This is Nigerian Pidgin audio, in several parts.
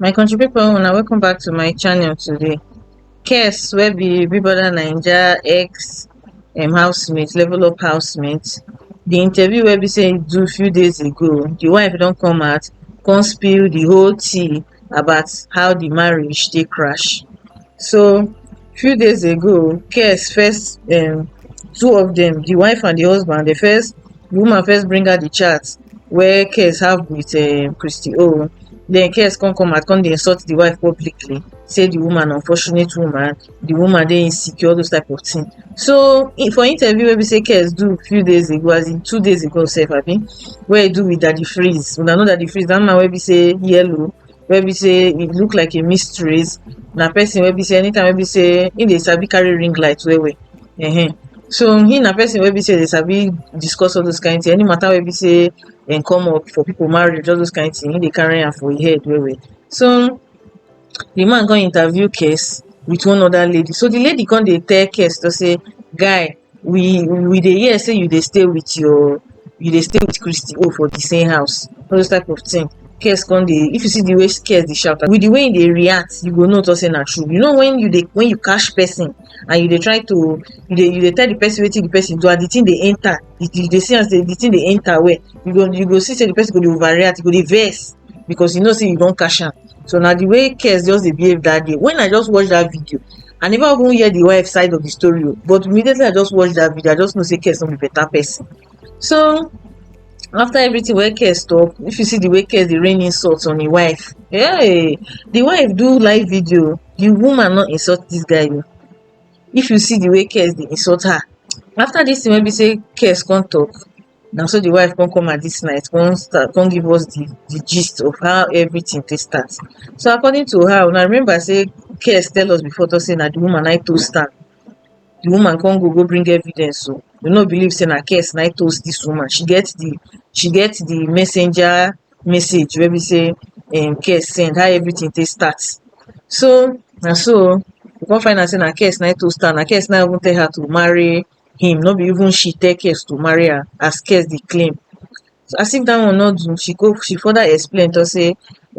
My country pipu una welcome back to my channel today. Kes wey be Big Brother Naija ex um housemate, level up housemate, the interview wey be sey im do few days ago, the wife don come out come spill the whole tea about how the marriage take crash. So few days ago girls first um two of dem di wife and di husband dey first di woman first bring out di chat wey girls have with um christy own den girls come come out come dey insult di wife publicly say di woman unfortunate woman di woman dey insecure all those type of thing so in for interview wey be say girls do few days ago as in two days ago sef abi wey e do with daddy freeze una know daddy freeze dat man wey be say yellow wey be sey e look like a mysteries na person wey be sey anytime wey be sey him dey sabi carry ring light well well um so him na person wey be sey dey sabi discuss all those kind thing any matter wey be sey dem come up for people marriage all those kind thing him dey carry am for him head well well so the man come interview Kes with one other lady so the lady come dey tell Kes to say guy we we dey hear say you dey stay with your you dey stay with christy o for the same house all those type of thing Kess come dey if you see the way Kess dey shout with the way he dey react you go know talk say na true you know when you dey when you catch person and you dey try to you dey you dey tell the person wetin the person do and the thing dey enter you you dey see am say the thing dey enter well you go you go see say the person go dey overreact he go dey vex because he know say you don catch am so na the way Kess just dey behave that day when I just watch that video I never even hear the wife side of the story, oh. but immediately I just watched that video, I just know say Kes no be better person. So after everything wey Kes talk, if you see the way Kes dey rain insults on his wife, hey, the wife do live video, the woman not insult this guy. Oh. If you see the way Kes dey insult her, after this thing wey be say Kes come talk, Na so di wife come come am dis night come start come give us di di gist of how everytin take start. So according to her, una remember sey Kess tell us before talk sey na di woman na im toast am, di woman come go go bring evidence o, we no believe sey na Kess na im toast dis woman, she get di she get di messenger message wey be sey um Kess send, how everytin take start. So na so o, we come find out sey na Kess na im toast am, na Kess na im even tell her to marry him no be even she tell kess to marry her as kess dey claim as if dat one no do she go she further explain talk say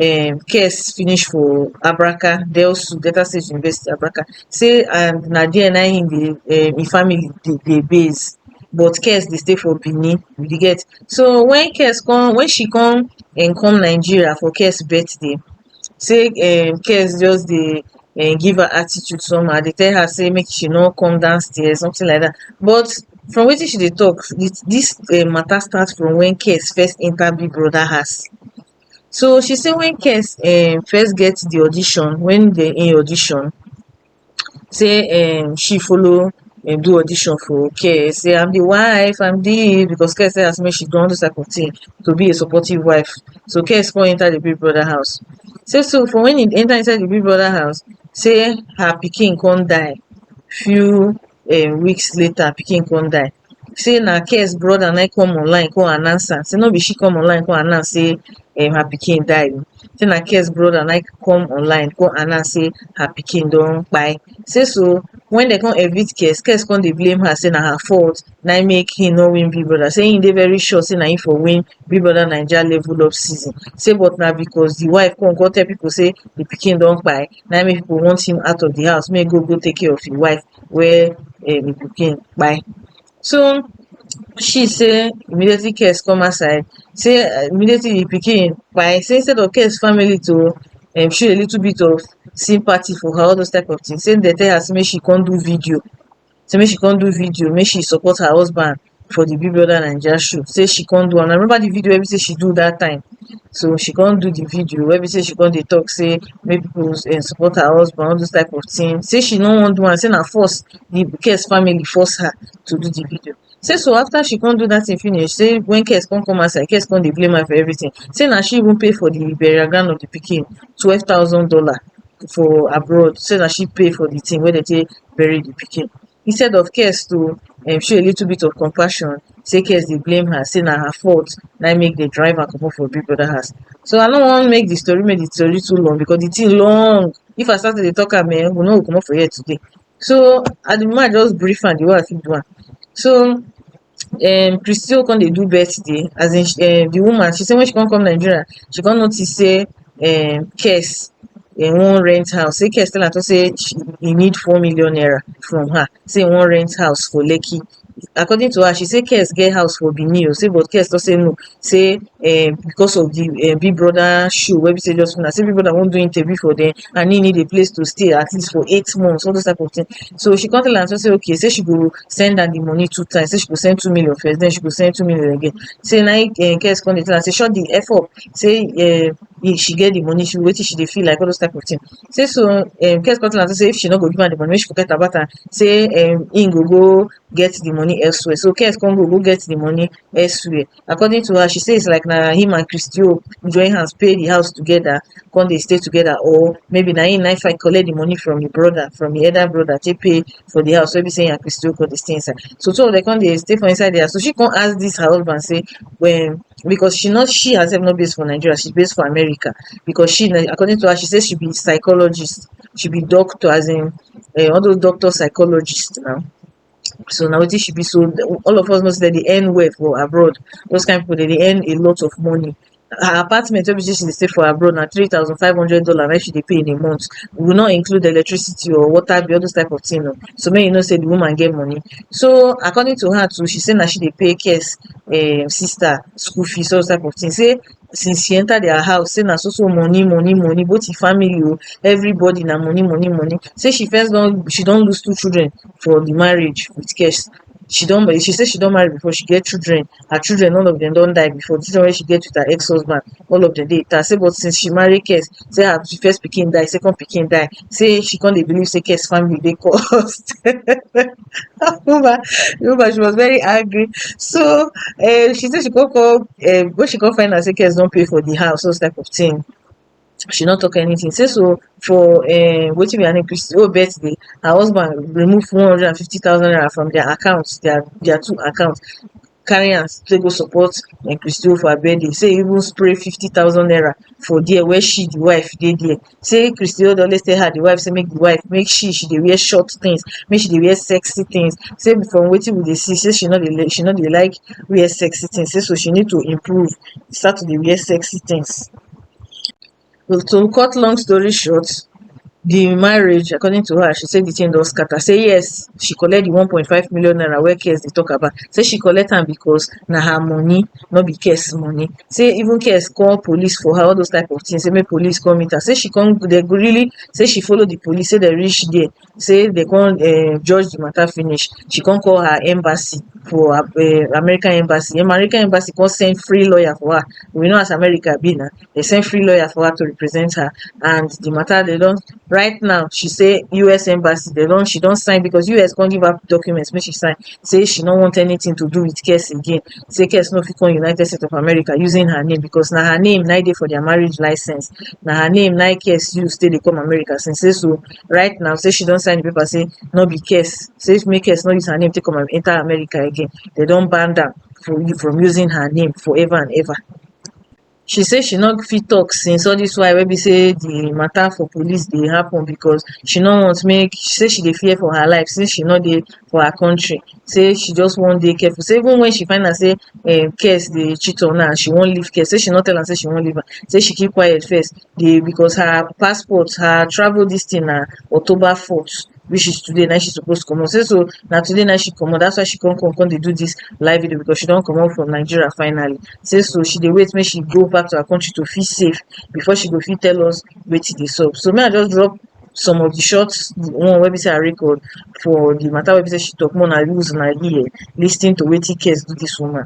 um kess finish for abraka delsu delta state university abraka say and na there na him dey um him family dey dey base but kess dey stay for benin you get so when kess come when she come um come nigeria for kess birthday sey um girls just dey um give her attitude somehow, dey tell her sey make she no come down stairs something like dat but from wetin she dey talk with dis um matter start from when girls first enter big brother house so she sey when girls um first get the audition when dem in audition say um she follow um do audition for care say I'm the wife I'm this because care say as me she done all those type of thing to be a supportive wife so care come enter the big brother house say so for when he enter inside the big brother house say her pikin come die few um weeks later pikin come die sey na Ken's brother na im come online come announce am, sey no be she come online come announce sey um her pikin die oh, sey na Ken's brother na im come online come announce sey her pikin don kpai. Sey so wen dem come evict Ken, Ken come dey blame her sey na her fault na im make im no win Big Brother, sey im dey very sure sey na im for win Big Brother Naija level up season, sey but na because de wife come come tell pipu sey de pikin don kpai na im make pipu want him out of de house make im go go take care of im wife wey um the pikin kpai so she say immediately cares come outside say um immediately the pikin kpai say instead of cares family to um show a little bit of sympathy for her all those type of things say dem tell her say make she come do video say make she come do video make she support her husband for the Big Brother Naija show say she come do am. I remember the video wey be say she do that time. So she come do the video wey be say she come dey talk say make people um support her husband all those type of thing. Say she no wan do am say na force the Kes family force her to do the video. Say so after she come do that thing finish say when Kes come come outside Kes come dey blame her for everything say na she even pay for the burial ground of the pikin twelve thousand dollar for abroad say na she pay for the thing wey dem take bury the pikin. instead of Kess to um show a little bit of compassion sey Kess dey blame her sey na her fault na im make dem drive her comot for Big Brother house. So I no wan make the story make the story too long because the thing long. If I start to dey talk am um we no go comot for here today. So at the moment I just brief am the way I fit do am. So um christy o come dey do birthday as in um the woman she say when she come come Nigeria she come notice sey um kess e wan rent house sey kess tell am talk sey e need four million naira from her sey e wan rent house for lekki according to her she say kess get house for benin o sey but kess talk sey no sey um because of the um big brother show wey be sey just now sey big brother wan do interview for dem and he need a place to stay at least for eight months, all those type of things. So she come tell am say okay, say she go send am the money two times, say she go send two million first, then she go send two million again. Say na him um Kess come dey tell am say shut the F up, say um if she get the money, she wetin she dey feel like all those type of thing. Say so um Kess come tell am say if she no go give am the money, make she forget about am, say um him go go get the money elsewhere. So Kess come go go get the money elsewhere. according to her she say it's like na him and christy o join hands pay the house together come dey stay together or maybe na him na fight collect the money from him brother from him elder brother take pay for the house wey be say him and christy o come dey stay inside so two of them come dey stay for inside the house so she come ask this her husband say when because she not she herself not based for nigeria she's based for america because she na- according to her she say she be psychologist she be doctor as in um all those doctor psychologist now so na wetin she be so all of us know sey dem dey earn well for abroad, those kind pipu dem dey earn a lot of money. Her apartment wey be sey she dey stay for abroad na three thousand five hundred dollar na im she dey pay in a month, we no include electricity oo, water bill all those type of thing oo, so make you know sey de woman get money. So according to her too she say na she dey pay Khess um sister school fees all those type of thing, sey since she enter their house say na so so money money money both the family o everybody na money money money say she first don she don lose two children for the marriage with cash she don she say she don marry before she get children her children all of them don die before the children wey she get with her ex husband all of them dey intact say but since she marry Kes say her first pikin die second pikin die say she come dey believe say Kes family dey cursed woman the woman she was very angry so um she say she go call um when she come find out say girls don pay for the house those type of thing she no talk anything say so for um wetin be her name Christy own birthday her husband remove one hundred and fifty thousand naira from their account their their two account carry am take go support Mike Christie for her birthday say e even spray fifty thousand naira for there where she the wife dey there say Christie dey always tell her the wife say make the wife make she she dey wear short things make she dey wear sexy things say from wetin we dey see say she no dey li- she no dey like wear sexy things say so she need to improve start to dey wear sexy things to cut long story short the marriage according to her she say the thing don scatter say yes she collect the one point five million naira wey Kes dey talk about say she collect am because na her money no be Kes money say even Kes call police for her all those type of things say make police come meet her say she come they go really say she follow the police say they reach there say dey con um judge the matter finish she con call her embassy for um American embassy, American embassy con send free lawyer for her we know as America be na dey send free lawyer for her to represent her and the matter dey don right now she say US embassy dey don she don sign because US con give her document make she sign say she no want anything to do with case again say case no fit come United State of America using her name because na her name na im dey for their marriage license na her name na im case use take dey come America since say so right now say she don sign di paper say no be case say make case no use her name take come enta America again dem don banned am from from using her name for ever and ever she say she no fit tok since all dis while wey be say di mata for police dey happun becos she no want make she say she dey fear for her life since she no dey for her kontri say she just wan dey careful say even wen she find out say um case dey cheat on her and she wan leave case say she no tell am say she wan leave am say she keep quiet first dey because her passport her travel this thing na October fourth which is today na im she suppose comot say so na today na im she comot that's why she come come come dey do this live video because she don comot from Nigeria finally say so she dey wait make she go back to her country to feel safe before she go fit tell us wetin dey sup so make I just drop some of the short one wey be say I record for the matter wey be say she talk make una use una ear lis ten to wetin cares do this woman